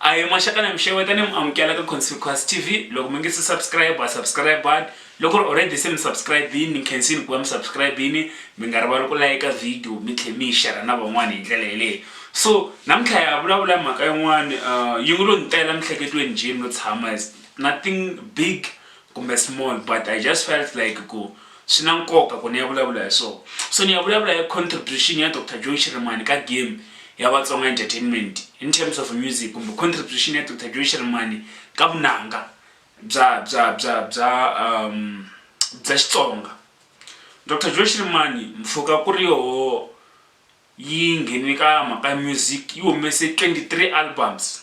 A hi maxaka na mi xeweta ni mi amukela ka Conspicuous TV loko mi nge se subscribe a subscribe-ani loko ri already se mi subscribe-ini ni khensini ku va mi subscribe-ini mi nga rivali ku layika video mi tlhe mi yi xera na van'wana hi ndlela yeleyo so namuntlha ya vulavula mhaka yin'wana uh, yi ngo lo ni tela mihleketweni jeni no tshama nothing big kumbe small but i just felt like ku swi na nkoka ku ni ya vulavula hi swona so ni ya vulavula hi contribution ya dr joe shirimani ka game ya vatsonga entertainment in terms of music kumbe contribution ya dr joe shirimani ka vunanga bya bya bya bya um bya xitsonga dr joe shirimani mpfhuka ku ri yoho yi nghene ka mhaka ya music yi humese 23 albums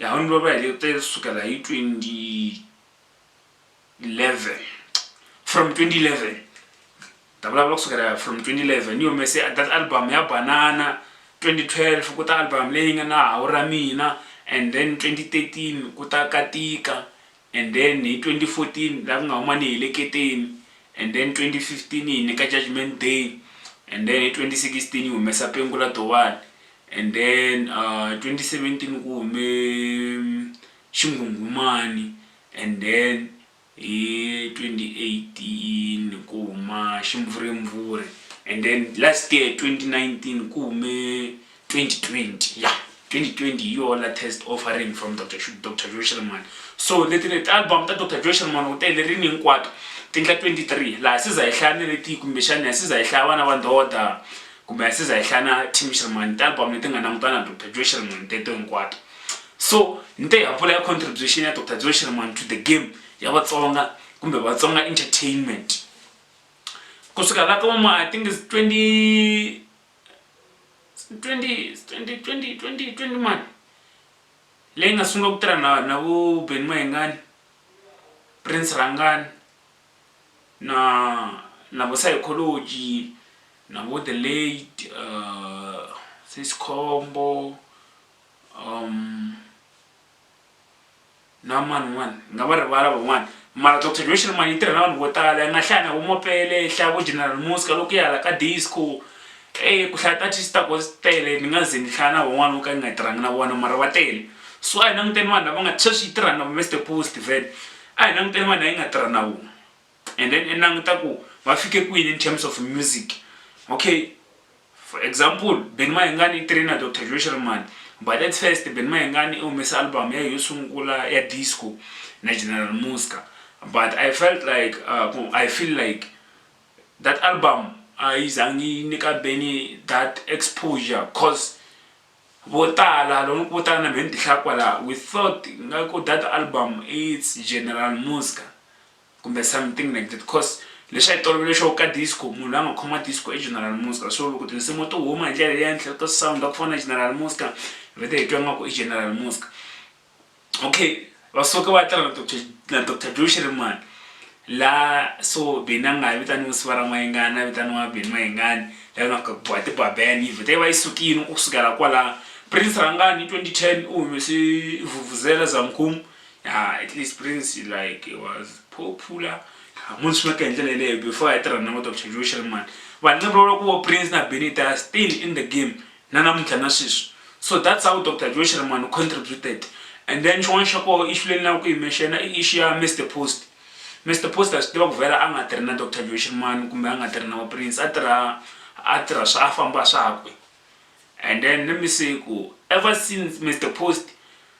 Yahweh baba hi lete sukela hi 2011 from 2011 ta vulavula kusukela from 2011 ni humese that album ya banana 2012 ku ta album leyi nga na hawu ra mina and then 2013 ku ta katika and then hi 2014 la ku nga huma ni heleketeni and then 2015 yi nyika judgment day and then hi 2016 yi humesa pengu la dowani and then uh, 2017 ku hume mm, xinghunghumani and then hi 2018 ku huma ximvurimvuri and then last year 2019 ku hume 2020 yeah 2020 hi yoho latest offering from dr Shu- dr joe shelman so leti ni ti-album ta dr joe shelman u tele rini hinkwato ti endla 23 laha siza hi hlaya ni ri ti kumbexani ya siza hi hlaya vana va ndoda kumbe ya siza hi hlaya na tim shelman ti-album leti nga langutana na dr joe shelman teto hinkwato so ni te ha vula ya contribution ya dr joe shelman to the game ya vatsonga kumbe vatsonga entertainment kusuka la koma i think is 20 twenty twenty twenty twenty twenty mani leyi nga sungula ku tirha na na vu Ben Mayengani Prince Rhangani na na vo Saikholoji na vo The Late Sesi Khombo . na mani un'wana ni nga va rivala van'wana mara doctor Joshua mani yi tirha na vanhu vo tala yi nga hlaya na vo Mopele yi hlaya vo General Muska loko ya hala ka disco eyi ku hlaya ti-artist ta kona ti tele ni nga ze ni hlaya na van'wana vo ka ni nga tirhangi na vona mara va tele so a hi languteni vanhu lava nga sweswi yi tirha na vo Mister Pule Steven a hi languteni vanhu lava yi nga tirha na vona. and then i languta ku va fike kwini in terms of music okay for example ben mahengani i trainer dr joe sherman but at first ben mahengani i humese album ya yo sungula ya disco na general musca but i felt like uh, i feel like that album a yi zangi yi nyika beni that exposure cause vo tala loko vo tala na mhe ni tihlaya kwalaha we thought ngaku that album its general musca kumbe something like that coz leswi a hi tolovele xo ka disco munhu la nga khoma disco i General Muska so loko tinsimu to huma hi ndlela leya ntle to sound ku fana na General Muska hi vete hi twa nga ku i General Muska okay va suke va tirha na Dr na Dr Joe Shirimani la so beni a nga ha vitaniwa siva ra n'wayengani a vitaniwa beni n'wayengani la nga ka bwa tibabeni yi vhete yi va yi sukile ku sukela kwalano prince rhangani hi 2010 u humese vuvuzela zamkhumu ya at least prince like it was popular munhu swi nga ka hi ndlela yeleyo before a tirha na vo dr joe shelman vanhu nga vulavula ku vo prince na benita still in the game na namuntlha na sweswi so that's how dr joe shelman contributed and then xin'wana xa koho ixu leyi ni lava ku yimexena i ixu ya mr post mr post a swi tiva ku vhela a nga tirhi na dr joe shelman kumbe a nga tirhi na vo prince a tirha a tirha swa a famba swakwe and then let me say ku ever since mr post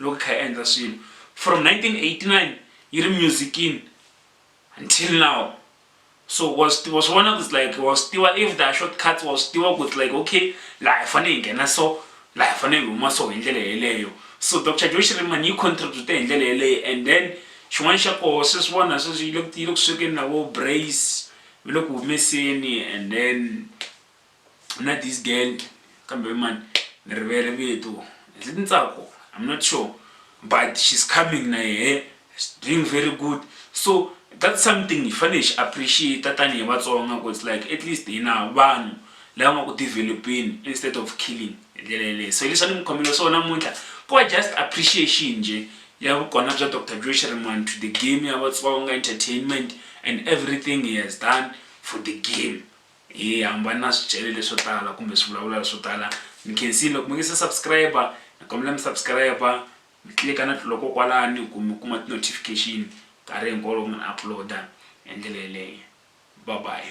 loko hi kha hi endla swilo from 1989 yi ri musicini until now so wa swi tiva swi vona ku like wa swi tiva if the short cuts wa swi tiva ku like okay laha hi fanele hi nghena so laha hi fanele hi huma so hi ndlela yeleyo so dr josh riman yi contribute hi ndlela yeleyo and then xin'wana xa koho swi swi vona sweswi yi le ku yi le ku swekeni na vo brace mi le ku humeseni and then na this girl kambe man ni rivele vito is it ntsako i'm not sure but she's coming na yehe doing very good so that's something hi fanele hi xi appreciate tanihi vatsonga ku it's like at least hina vanhu lava nga ku developeni instead of killing hi ndlela yeleyo so hileswi a ni mi khomele swona namuntlha ku va just appreciation nje ya vukona bya dr joy shiriman to the game ya vatsonga entertainment and everything he has done for the game Hi hambane na swichele leswo tala kumbe swivulavula leswo tala mi khensile loko mi nge se subscribe ni kombela mi subscribe mi click na tlula ko kwalani ku mi kuma ti notification nkarhi hinkwawo loko ni upload hi ndlela yeleyo bye bye.